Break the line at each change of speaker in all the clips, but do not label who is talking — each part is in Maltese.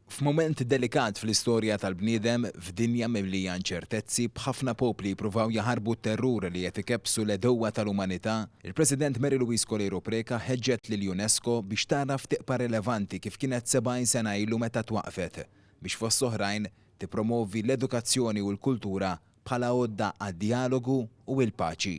F'mument delikat fl-istorja tal-bniedem, f'dinja mimlija inċertezzi, b'ħafna popli jippruvaw jaħarbu t-terrur li qed ikebbsu l-għedewwa tal-umanità, il-President Mary Louise Coleiro Preca ħeġġet lill-UNESCO biex tagħraf tieqpa rilevanti kif kienet 70 sena ilu meta twaqqfet biex fost oħrajn tippromovi l-edukazzjoni u l-kultura bħala għodda għad-djalogu u l-paċi.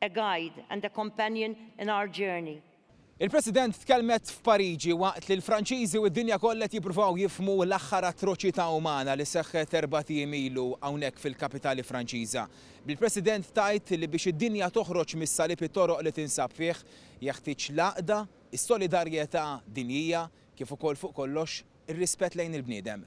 A guide and a companion in our journey. Il-President
tkellmet f'Pariġi waqt li l-Franċiżi u d-dinja kollha qed jippruvaw jifhmu l-aħħar atroċità umana li seħħet erbat ijiem ilu hawnhekk fil-kapitali Franċiża, bil-President tgħid li biex id-dinja toħroġ mis-salib it-toroq li tinsab fih jeħtieġ l-għaqda, is-solidarjetà dinjija, kif ukoll fuq kollox ir-rispett lejn il-bniedem.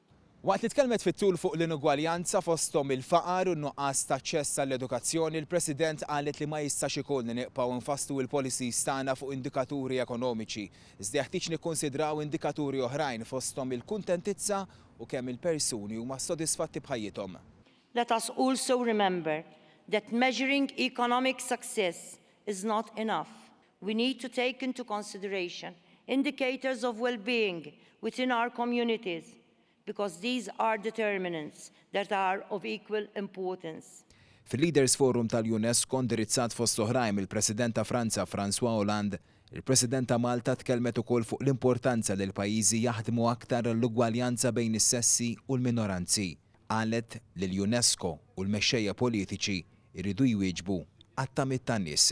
Waqt li
tkellmet fit-tul fuq l-inugwaljanza fosthom il-faqar u n-nuqqas ta' aċċess għall-edukazzjoni, l-President qalet li ma jistax ikun li niqpgħu nfasslu l-policies tagħna fuq indikaturi ekonomiċi, iżda jeħtieġ nikkunsidraw indikaturi oħrajn fosthom il-kuntentizza u kemm il-persuni huma sodisfatti b'ħajjithom. Let us
also remember that measuring economic success is not enough. We need to take into consideration indicators of well-being within our communities because these are determinants that are of equal importance. Fil-Leaders
Forum tal-UNESCO, indirizzat fost l-oħrajn mill-President ta' Franza François Hollande, il-President ta' Malta tkellmet ukoll fuq l-importanza li l-pajjiżi jaħdmu aktar għall-ugwaljanza bejn is-sessi u l-minoranzi. Qalet li l-UNESCO u l-mexxejja politiċi jridu jwieġbu għat-tamiet tan-nies.